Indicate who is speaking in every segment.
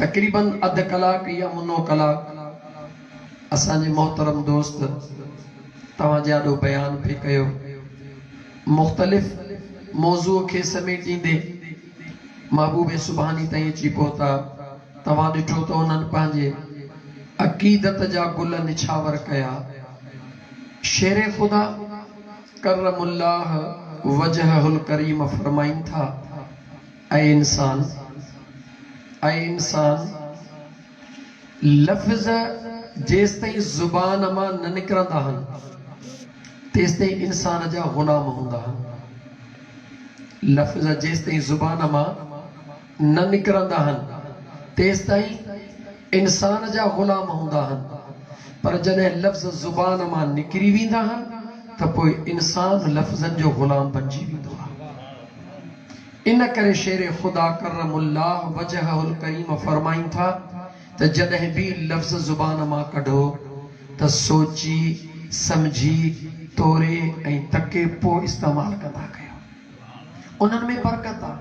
Speaker 1: تقريباً اڌ ڪلاڪ يا منو ڪلاڪ اسان جي محترم دوست توهان جي آڏو بيان پئي ڪيو. مختلف موضوع کي سميٽيندي محبوب سبحاني تائين اچي پهتا. توهان ڏٺو ته انهن پنهنجي عقيدت جا گل نڇاور ڪيا. شير خدا ڪرم الله وجهه الڪريم فرمائين ٿا. اي انسان! اي انسان! لفظ جيستائين زبان مان نه نڪرندا هن، تيستائين انسان جا غلام هوندا هن. لفظ جيستائين زبان مان نه نڪرندا هن، تيستائين انسان جا غلام هوندا هن، پر جڏهن لفظ زبان مان نڪري ويندا هن ته پوء انسان لفظن جو غلام بنجي ويندو آهي. ان ڪري شير خدا ڪرم الله وجهه الڪريم فرمائين ٿا ته جڏهن به لفظ زبان مان ڪڍو ته سوچي، سمجهي، توري ۽ تڪي پوء استعمال ڪندا ڪيو. انهن ۾ برڪت آ.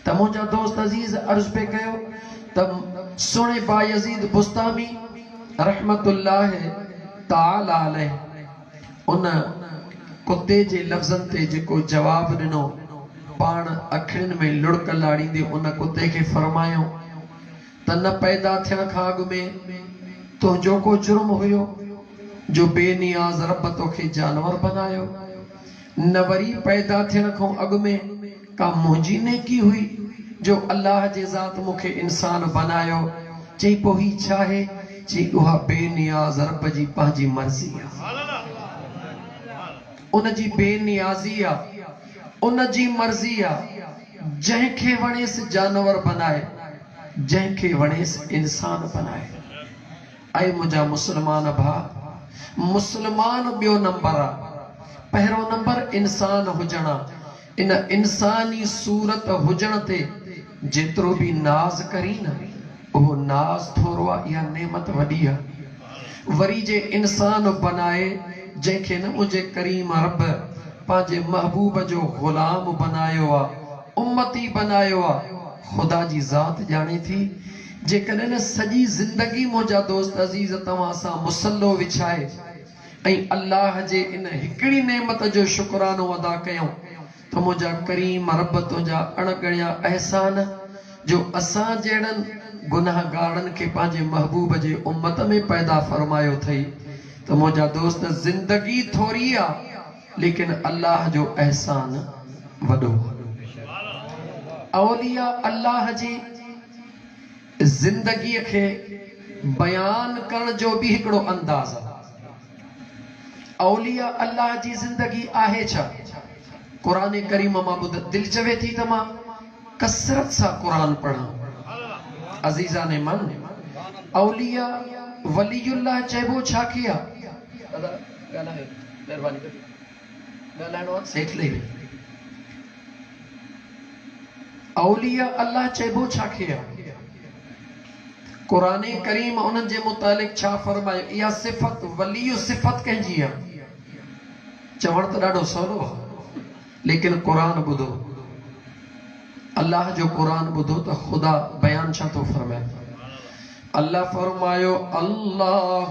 Speaker 1: ته منهنجا دوست عزيز عرض پئي ڪيو ته سهڻي بايزيد بسطامي رحمة الله تعالٰي عليه، ان ڪتي جي لفظن تي جيڪو جواب ڏنو، پاڻ اکڙين ۾ لڙڪ لاڙيندي ان ڪتي کي فرمايائون ته نه پيدا ٿيڻ کان اڳ ۾ تنهنجو ڪو جرم هيو جو بي نياز رب توکي جانور بنايو. نه وري پيدا ٿيڻ کان اڳ ۾ ڪا منهنجي نيڪي هئي جو الله جي ذات مون کي انسان بنايو. چئي پوء هي ڇا آهي؟ چئي اها بي نياز رب جي پنهنجي مرضي آ. ان جي بي نيازي آ. ان جي مرضي آ. جنهن کي وڻيس جانور بنائي، جنهن کي وڻيس انسان بنائي. اي منهنجا مسلمان ڀاء! مسلمان ٻيو نمبر آ، پهريون نمبر انسان هجڻ آ، ان انساني صورت هجڻ تي جيترو به ناز ڪرين نه اهو ناز ٿورو آ اها نعمت وڏي آ، وري جي انسان بنائي جنهن کي نه منهنجي ڪريم رب پنهنجي محبوب جو غلام بنايو آ، امتي بنايو آ، خدا جي ذات ڄاڻي ٿي، جيڪڏهن سڄي زندگي منهنجا دوست عزيز توهان سان مصلو وڇائي ۽ الله جي ان هڪڙي نعمت جو شڪرانو ادا ڪيائون ته منهنجا ڪريم رب تنهنجا اڻ ڳڻيا احسان جو اسان جهڙن گنهگارن کي پنهنجي محبوب جي امت ۾ پيدا فرمايو اٿئي ته منهنجا دوست زندگي ٿوري آ ليڪن الله جو احسان وڏو آ. اولياء الله جي زندگيء کي بيان ڪرڻ جو به هڪڙو انداز آ. اولياء الله جي زندگي آهي ڇا؟ قرآن ڪريم مان ٻڌ، دل چوي ٿي ته مان ڪثرت سان قرآن پڙهان. عزيزان من! اولياء ولي الله چئبو ڇا کي آ؟ ڳالهايو مهرباني ڪري ڳالهائڻو آ هيٺ لهي وڃ. اولياء الله چئبو ڇا کي آ؟ قرآن ڪريم انهن جي متعلق ڇا فرمايو؟ اها صفت ولي صفت ڪنهن جي آ؟ چوڻ ته ڏاڍو سولو آ ليڪن قرآن ٻڌو الله جو قرآن ٻڌو ته خدا بيان ڇا ٿو فرمائي الله فرمايو الله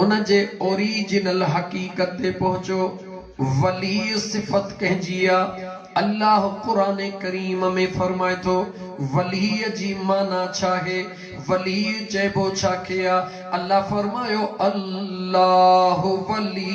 Speaker 1: ان جي اوريجنل حقيقت تي پهچو، ولي صفت ڪنهن جي آ؟ الله قرآن ڪريم ۾ فرمائي ٿو، ولي جي معنيٰ ڇاهي؟ ولي چئبو ڇا کي آ؟ الله فرمايو، الله ولي.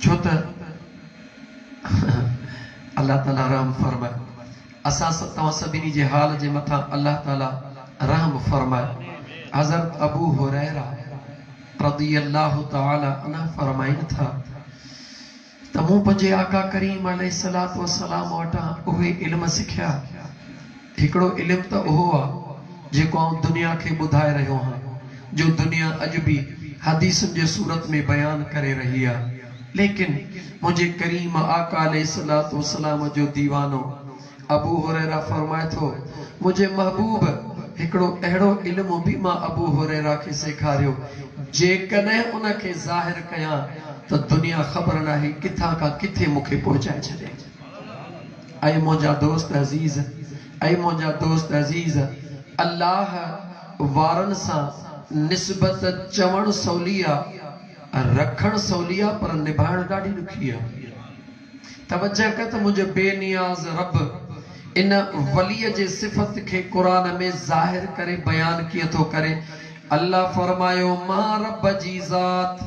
Speaker 1: ڇو ته الله تعاليٰ رحم فرماء. اسان توهان سڀني جي حال جي مٿان الله تعاليٰ رحم فرماء. حضرت ابو هريره رضي الله تعاليٰ عنه فرمائين ٿا ته مون پنهنجي آقا ڪريم عليه الصلوة والسلام وٽان اهي علم سکيا، هڪڙو علم ته اهو آ جيڪو آئون دنيا کي ٻڌائي رهيو هان جو دنيا اڄ به حديثن جي صورت ۾ بيان ڪري رهي آ ليڪن منهنجي ڪريم آقا عليه الصلوة والسلام جو ديوانو ابو هريره فرمائي ٿو منهنجي محبوب هڪڙو اهڙو علم به مان ابو هريره کي سيکاريو جيڪڏهن ان کي ظاهر ڪيان ته دنيا خبر ناهي ڪٿان کان ڪٿي مون کي پهچائي ڇڏي. اي منهنجا دوست عزيز! اي منهنجا دوست عزيز! الله وارن سان نسبت چوڻ سولي آ، رکڻ سولي آ پر نڀائڻ ڏاڍي ڏکي آ. توجه ڪر ته منهنجي بي نياز رب ان ولي جي صفت کي قرآن ۾ ظاهر ڪري بيان ڪيئن ٿو ڪري، الله فرمايو، مان رب جي ذات!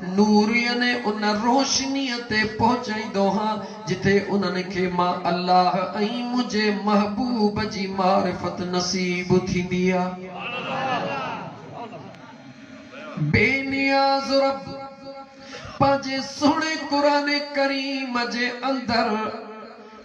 Speaker 1: نور يعني ان روشنيء تي پهچائيندو هان، جتي انهن کي مان الله ۽ منهنجي محبوب جي معرفت نصيب ٿيندي ها. بي نياز رب پنهنجي سهڻي قرآن ڪريم جي اندر،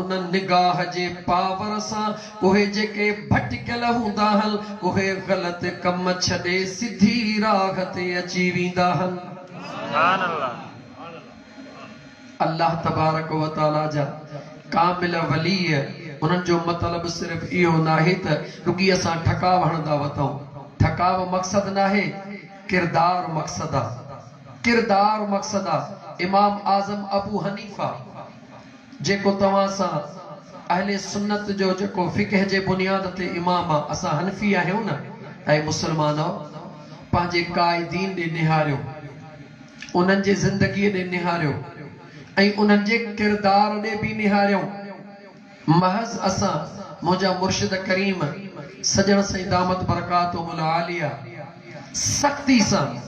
Speaker 1: ان نگاهه جي پاور سان اهي جيڪي ڀٽڪيل هوندا هن، اهي غلط ڪم ڇڏي سڌي راهه تي اچي ويندا هن. الله تبارڪ و تعاليٰ جا ڪامل ولي، انهن جو مطلب صرف اهو ناهي ته رڳي اسان ٺڪاء هڻندا وتئون. ٺڪاء مقصد ناهي، ڪردار مقصد آ. ڪردار مقصد آ. امام اعظم ابو حنيفه. جيڪو توهان سان اهل سنت جو جيڪو فقه جي بنياد تي امام آ اسان حنفي آهيون نه اي مسلمانؤ پنهنجي قائدين ڏي نهاريو انهن جي زندگي ڏي نهاريو ۽ انهن جي ڪردار ڏي به نهاريون محض اسان منهنجا مرشد ڪريم سڄڻ سائين دامت برڪاتهم العاليه سختي سان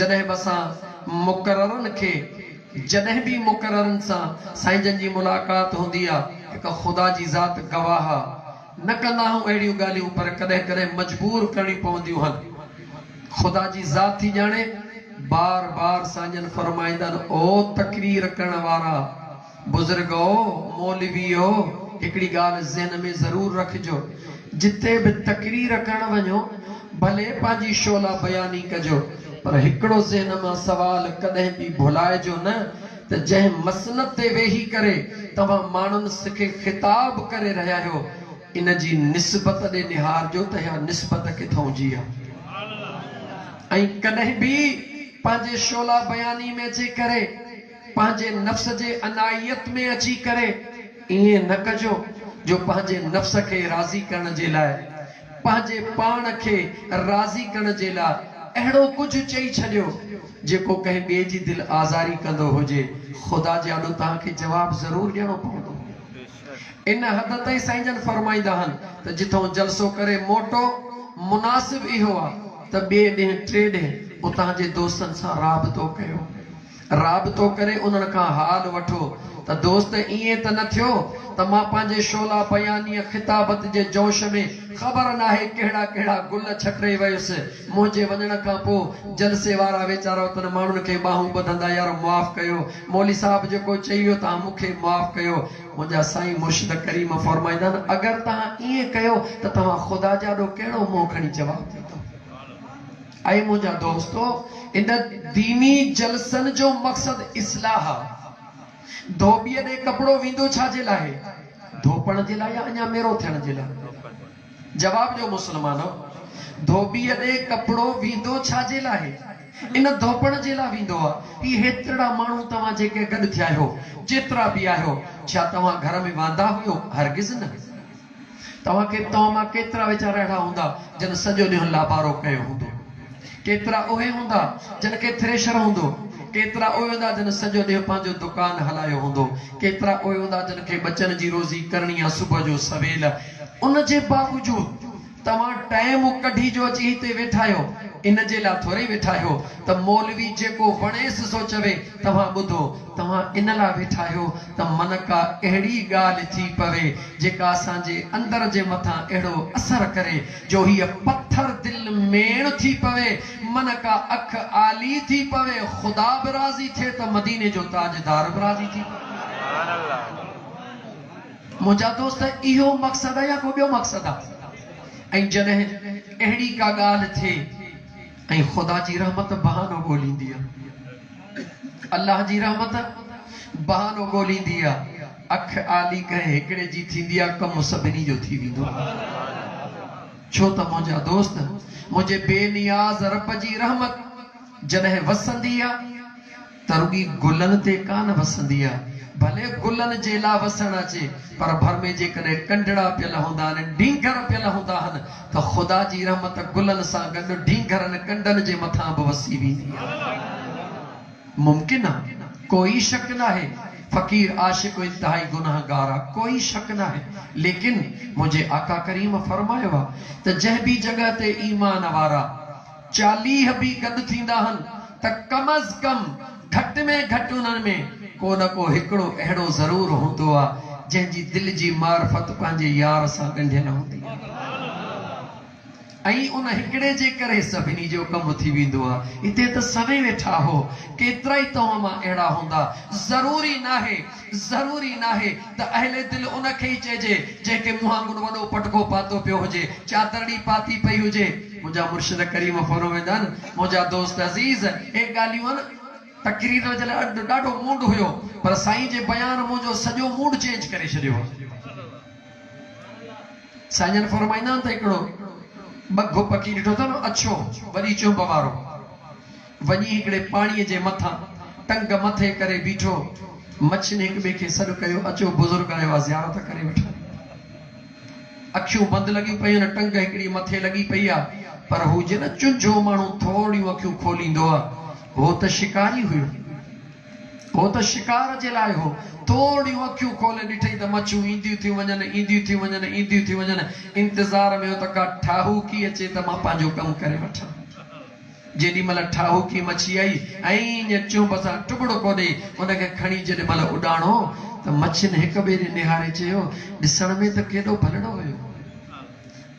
Speaker 1: جڏهن به اسان مقررن کي جڏهن به مقررن سان سائين جن جي ملاقات هوندي آ، هڪ خدا جي ذات گواهه آ، نه ڪندا آهون اهڙيون ڳالهيون پر ڪڏهن ڪڏهن مجبور ڪرڻيون پونديون هن. خدا جي ذات ٿي ڄاڻي، بار بار سائين جن فرمائيندن او تقرير ڪرڻ وارا، بزرگؤ، مولويؤ، هڪڙي ڳالهه ذهن ۾ ضرور رکجو، جتي به تقرير ڪرڻ وڃو ڀلي پنهنجي شعله بياني ڪجو پر هڪڙو ذهن مان سوال ڪڏهن به ڀلائجو نه ته جنهن مسند تي ويهي ڪري توهان ماڻهن سکي خطاب ڪري رهيا هيو ان جي نسبت ڏي نهارجو ته اها نسبت ڪٿئون جي آهي ۽ ڪڏهن به پنهنجي شعله بياني ۾ جي ڪري پنهنجي نفس جي انائيت ۾ اچي ڪري ائين نه ڪجو جو پنهنجي نفس کي راضي ڪرڻ جي لاء پنهنجي پاڻ کي راضي ڪرڻ جي لاء اهڙو ڪجهه چئي ڇڏيو جيڪو ڪنهن ٻئي جي دل آزاري ڪندو هجي خدا جي آڏو توهان کي جواب ضرور ڏيڻو پوندو ان حد تائين سائين جن فرمائيندا آهن ته جتئون جلسو ڪري موٽو مناسب اهو آ ته ٻئي ڏينهن ٽئي ڏينهن اتان جي دوستن سان رابطو ڪيو رابطو ڪري انهن کان حال وٺو ته دوست ائين ته نه ٿيو ته مان پنهنجي شعله بيانيء خطابت جي جوش ۾ خبر ناهي ڪهڙا ڪهڙا گل ڇٽي ويس. منهنجي وڃڻ کان پوء جلسي وارا ويچارا اتن ماڻهن کي ٻانهون ٻڌندا يار معاف ڪيو مولوي صاحب جيڪو چئي ويو تهان مون کي معاف ڪيو. منهنجا سائين مرشد ڪريم فرمائيندا آهن اگر تهان ائين ڪيو ته توهان خدا جي آڏو ڪهڙو منهن کڻي جواب ڏيندؤ. اي منهنجا دوستو! ان ديني جلسن جو مقصد اصلاح آ. ڌوٻيء ڏي ڪپڙو ويندو ڇا جي لاء؟ ڌوپڻ جي لاء يا اڃا ميرو ٿيڻ جي لاء؟ جواب ڏيو مسلمانؤ! ڌوٻيء ڏي ڪپڙو ويندو ڇا جي لاء؟ ان ڌوپڻ جي لاء ويندو آ. هي هيترڙا ماڻهو توهان جيڪي گڏ ٿيا آهيو، جيترا به آهيو، ڇا توهان گهر ۾ واندا هيو؟ هرگز نه! توهان کي توهان مان ڪيترا ويچارا اهڙا هوندا جن سڄو ڏينهن لابارو ڪيو هوندو. ڪيترا اهي هوندا جن کي ٿريشر هوندو. ڪيترا اهي هوندا جن سڄو ڏينهن پنهنجو دڪان هلايو هوندو. ڪيترا اهي هوندا جن کي ٻچن جي روزي ڪرڻي آ صبح جو سويل. ان جي باوجود توهان ٽائيم ڪڍي جو اچي هتي ويٺا آهيو. ان جي لا ٿورئي ويٺا آهيو ته مولوي جيڪو وڻيس سو چوي توهان ٻڌو، توهان ان لاء ويٺا آهيو ته من ڪا اهڙي ڳالهه ٿي پوي، جيڪا اسان جي اندر جي مٿان اهڙو اثر ڪري، جو هيء پٿر دل ميڻ ٿي پوي، من ڪا اک عالي ٿي پوي، خدا به راضي ٿئي ته مديني جو تاجدار به راضي ٿي پوي. منهنجا دوست! اهو مقصد آ يا ڪو ٻيو مقصد آ؟ ۽ جڏهن اهڙي ڪا ڳالهه ٿئي. ۽ خدا جي رحمت بهانو ڳوليندي آ. الله جي رحمت بهانو ڳوليندي آ. اک آلي ڪنهن هڪڙي جي ٿيندي آ، ڪم سڀني جو ٿي ويندو آ. ڇو ته منهنجا دوست، منهنجي بي نياز رب جي رحمت جڏهن وسندي آ، ته رڳي گلن تي ڪانه وسندي آهي، ڀلي گلن جي لا وسڻ اچي، پر ڀر ۾ جيڪڏهن ٽنڊڙا پيل هوندا آهن، ڊينگهر پيل هوندا آهن، ته خدا جي رحمت گلن سان گڏ ڊينگهرن ڪنڊن جي مٿان به وسي ويندي آهي. ممڪن آهي، ڪوئي شڪ ناهي، فقير عاشق انتهائي گنهگار آهي، ڪوئي شڪ ناهي، ليڪن منهنجي آقا ڪريم فرمايو آهي ته جنهن به جڳهه تي ايمان وارا چاليهه به گڏ ٿيندا هن ته ڪم از ڪم گهٽ ۾ گهٽ انهن ۾ ڪو نه ڪو هڪڙو اهڙو ضرور هوندو آ جنهن جي دل جي معرفت پنهنجي يار سان ڳنڍيل هوندي آ ۽ ان هڪڙي جي ڪري سڀني جو ڪم ٿي ويندو آ هتي ته سوين ويٺا هو ڪيترائي توهان مان اهڙا هوندا ضروري ناهي ضروري ناهي ته اهل دل ان کي ئي چئجي جنهن کي مون وانگر وڏو پٽڪو پاتو پيو هجي، چادرڙي پاتي پئي هجي. منهنجا مرشد ڪريم فرمائينداآهن، منهنجا دوست عزيز! اهي ڳالهيون آهن. تقرير جو جڏهن اڏ ڏاڍو موڊ هيو پر سائين جي بيان منهنجو سڄو موڊ چينج ڪري ڇڏيو هو. سائين جن فرمائيندا آهن ته هڪڙو ٻگهه پکي ڏٺو اٿن اڇو وڏي چونب وارو. وڃي هڪڙي پاڻيء جي مٿان ٽنگ مٿي ڪري بيٺو. مڇين هڪ ٻئي کي سڏ ڪيو، اچو بزرگ آيو آ، زيارت ڪري وٺان. اکيون بند لڳيون پيون، ٽنگ هڪڙي مٿي لڳي پئي آ، پر هو جي نه چنجهو ماڻهو ٿورڙيون اکيون کوليندو آ، هو ته شڪاري هيو. هو ته شڪار جي لاء هو. ٿورڙيون اکيون کولي ڏٺئي ته مڇون اينديون ٿيون وڃن، اينديون ٿيون وڃن، اينديون ٿيون وڃن. انتظار ۾ هو ته ڪا ٺاهوڪي اچي ته مان پنهنجو ڪم ڪري وٺان. جيڏي مھل ٺاھوڪي مچي آئي ۽ ايئن چنب سان ٽٻڙڪو ڏئي ان کي کڻي جيڏي مھل اڏاڻو ته مڇين ھڪ ٻئي ڏي نھاري چيو، ڏسڻ ۾ ته ڪيڏو ڀلڙو ھيو.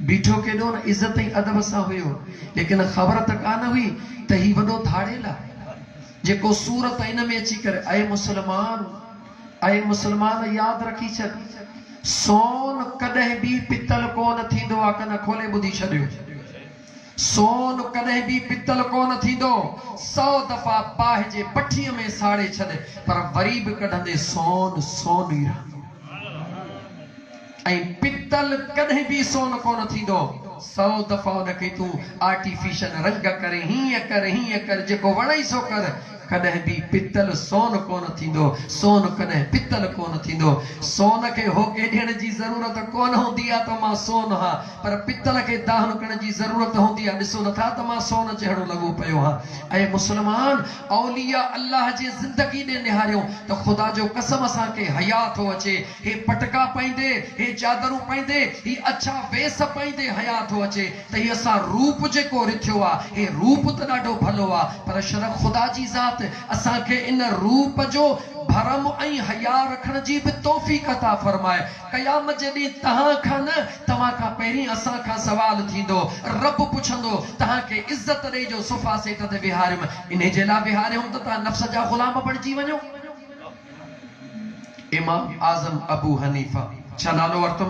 Speaker 1: بيٺو ڪيڏو نه عزت ۽ ادب سان ھيو. ليڪن خبر ته ڪا نه ھئي ته ھي وڏو ڌاڙيل آھي. جيڪو سور ته ان ۾ اچي ڪري اي مسلمان! اي مسلمان! ياد رکي ڇڏ. سون ڪڏھن بي پتل ڪو نه ٿيندو آ. ڪن کولي ٻڌي ڇڏيو. سون ڪڏهن به پتل ڪونه ٿيندو، سئو دفعا باهه جي بٺيء ۾ ساڙي ڇڏ، پر وري به ڪڍندي سون سون ئي رهندو ۽ پتل ڪڏهن به سون ڪونه ٿيندو، سئو دفعا ان کي تون آرٽيفيشل رنگ ڪر، هيئن ڪر، هيئن ڪر، جيڪو وڻئي سو ڪر، ڪڏهن به پتل سون ڪونه ٿيندو، سون ڪڏهن پتل ڪونه ٿيندو. سون کي هوڪي ڏيڻ جي ضرورت ڪونه هوندي آ ته مان سون هان، پر پتل کي دانهنڪڻ جي ضرورت هوندي آ، ڏسو نٿا ته مان سون جهڙو لڳو پيو هان. اي مسلمان! اولياء الله جي زندگي ڏي نهاريو ته خدا جو قسم اسان کي حياء ٿو اچي، هي پٽڪا پائيندي، هي چادرون پائيندي، هي اڇا ويس پائيندي حياء ٿو اچي، تئي اسان روپ جيڪو رٿيو آ، هي روپ ته ڏاڍو ڀلو آ، پر شرڪ خدا جي ذات اسان کي ان روپ جو ڀرم ۽ حياء رکڻ جي به توفيق عطا فرمائي. قيامت جي ڏينهن تهان کان نه، توهان کان پهرين اسان کان سوال ٿيندو. رب پڇندو، تهان کي عزت ڏئي جو صفا سيٽ تي ويهاريم، انهي جي لاء ويهاريوم ته تهان نفس جا غلام بڻجي وڃو. امام اعظم ابو حنيفه ڇا نالو ورتم؟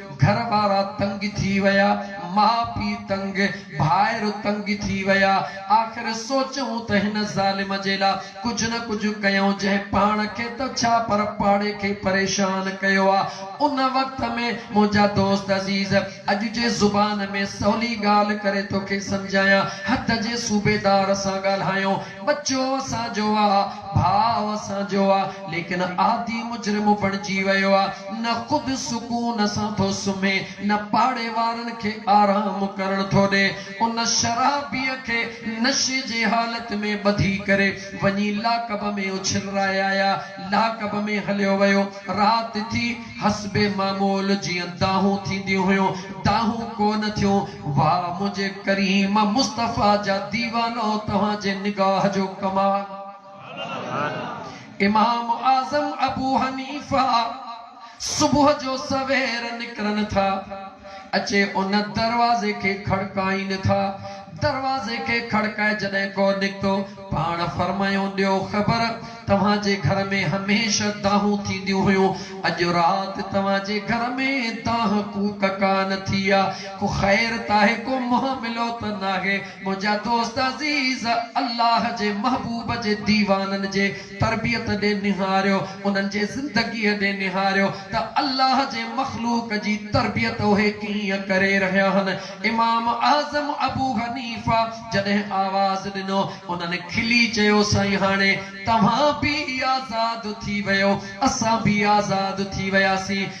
Speaker 1: گهر وارا تنگ ٿي ويا، ماء پيء تنگ، ڀائر تنگ ٿي ويا. آخر سوچيون ته هن ظالم جي لا ڪجهه نه ڪجهه ڪيون، جنهن پاڻ کي ته ڇا پر پاڙي کي پريشان ڪيو آ. ان وقت ۾ منهنجا دوست عزيز اڄ جي زبان ۾ سولي ڳالهه ڪري توکي سمجهايان حد جي صوبيدار سان ڳالهايو، ٻچو اسان جو آ، ڀاء اسان جو آ، ليڪن عادي مجرم بڻجي ويو آ. نه خود سڪون سان ٿو سمهي، نه پاڙي وارن کي آرام ڪرڻ ٿو ڏي. ان شرابيء کي نشي جي حالت ۾ ٻڌي ڪري وڃي لاڪب ۾ اڇلرائي آيا. لاڪب ۾ هليو ويو. رات ٿي. حسب معمول جيئن دانهون ٿينديون هيون، دانهون ڪو نه ٿيون. واء منهنجي ڪريم مصطفيٰ جا ديوانؤ توهان جي نگاهه جو ڪمال! امام اعظم ابو حنيفه صبح جو سوير نڪرن ٿا، اچي ان دروازي کي کڙڪائين ٿا، دروازي کي کڙڪائي جڏهن ڪو نڪتو، پاڻ فرمايو ڏيو خبر، توهان جي گهر ۾ هميشه دانهون ٿينديون هيون، اڄ رات توهان جي گهر ۾ دانهن ڪوڪ ڪانه ٿي آ، ڪو خير ته آهي، ڪو مهاملو ته ناهي، منهنجا دوست عزيز! الله جي محبوب جي ديوانن جي تربيت ڏي نهاريو، انهن جي زندگيء ڏي نهاريو ته الله جي مخلوق جي تربيت اهي ڪيئن ڪري رهيا هن. امام اعظم ابو حنيفه جڏهن آواز ڏنو، انهن کلي چيو، سائين هاڻي توهان به آزاد ٿي ويو، اسان به آزاد ٿي وياسين.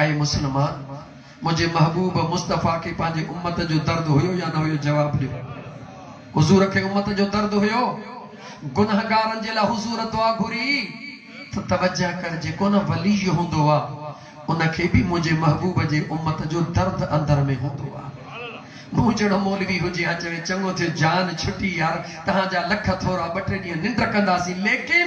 Speaker 1: اي مسلمان! منهنجي محبوب مصطفيٰ کي پنهنجي امت جو درد هيو يا نه هيو؟ جواب ڏيو. حضور کي امت جو درد هيو. گنهگارن جي لاء حضور دعا گهري ته توجه ڪر جيڪو نه ولي هوندو آ ان کي به منهنجي محبوب جي امت جو درد اندر ۾ هوندو آ. مون جهڙو مولوي هجي ها چوي چڱو ٿيو جان ڇٽي يار تهان جا لک ٿورا ٻه ٽي ڏينهن ننڊ ڪنداسين ليڪن.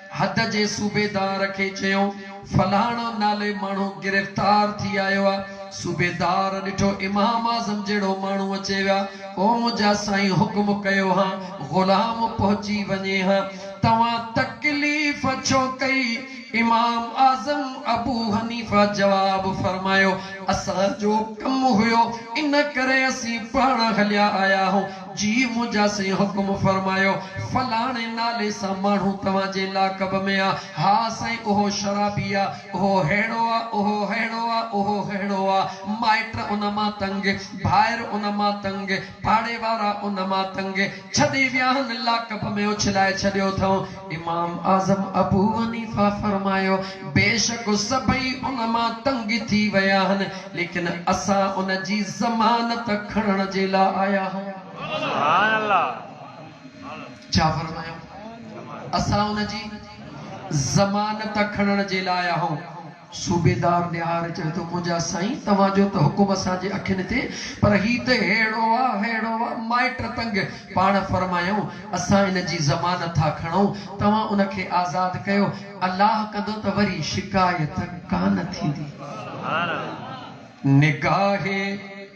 Speaker 1: حد جي صوبيدار کي چيو فلاڻو نالي ماڻهو گرفتار ٿي آيو آ، صوبيدار ڏٺو امام اعظم جهڙو ماڻهو اچي ويا، او منهنجا سائين حڪم ڪيو ها غلام پهچي وڃي ها، توهان تڪليف ڇو ڪئي، امام اعظم ابو حنيفه جواب فرمايو، اسان جو ڪم هيو ان ڪري اسين پاڻ هليا آيا هون. جي منهنجا سائين حڪم فرمايو فلاڻي نالي سان ماڻهو توهان جي لاقب ۾ آ، ها سائين اهو شرابي آ، اهو ههڙو آ، اهو ههڙو آ، اهو ههڙو آ، مائٽ ان مان تنگ، ڀائر ان مان تنگ، پاڙي وارا ان مان تنگ، ڇڏي ويا آهن، لاقب ۾ اڇلائي ڇڏيو اٿئون. امام اعظم ابوحنيفه فرمايو، بيشڪ سڀئي ان مان تنگ ٿي ويا آهن، ليڪن اسان ان جي ضمانت کڻڻ جي لاء آيا آهيون. ڇا فرمايو؟ اسان ان جي ضمانت کڻڻ جي لاء آيا آهيون. صوبيدار نهار چوي ٿو، منهنجا سائين، توهان جو ته حڪم اسان جي اکين تي، پر هي ته ههڙو آ، ههڙو آ! مائٽ تنگ، پاڻ فرمايائون، اسان ان جي ضمانت ٿا کڻون، توهان ان کي آزاد ڪيو، الله ڪندو ته وري شڪايت ڪانه ٿيندي. نگاهه.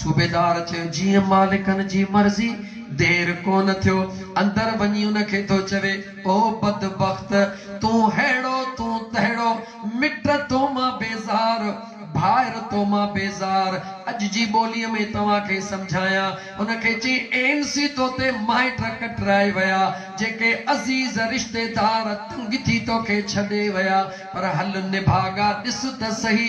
Speaker 1: صوبيدار چيو، جيئن مالڪن جي مرضي، دير ڪونه ٿيو، اندر وڃي ان کي ٿو چوي، او بدبخت! تون ههڙو، تون تهڙو، مٽ تو مان بيزار، ڀائر تو مان بيزار، اڄ جي ٻوليء ۾ توهان کي سمجهايان. ان کي چئي، اين سي تو تي مائٽ ڪٽرائي ويا، جيڪي عزيز رشتيدار تنگ ٿي توکي ڇڏي ويا، پر هل نڀاڳا، ڏس ته سهي،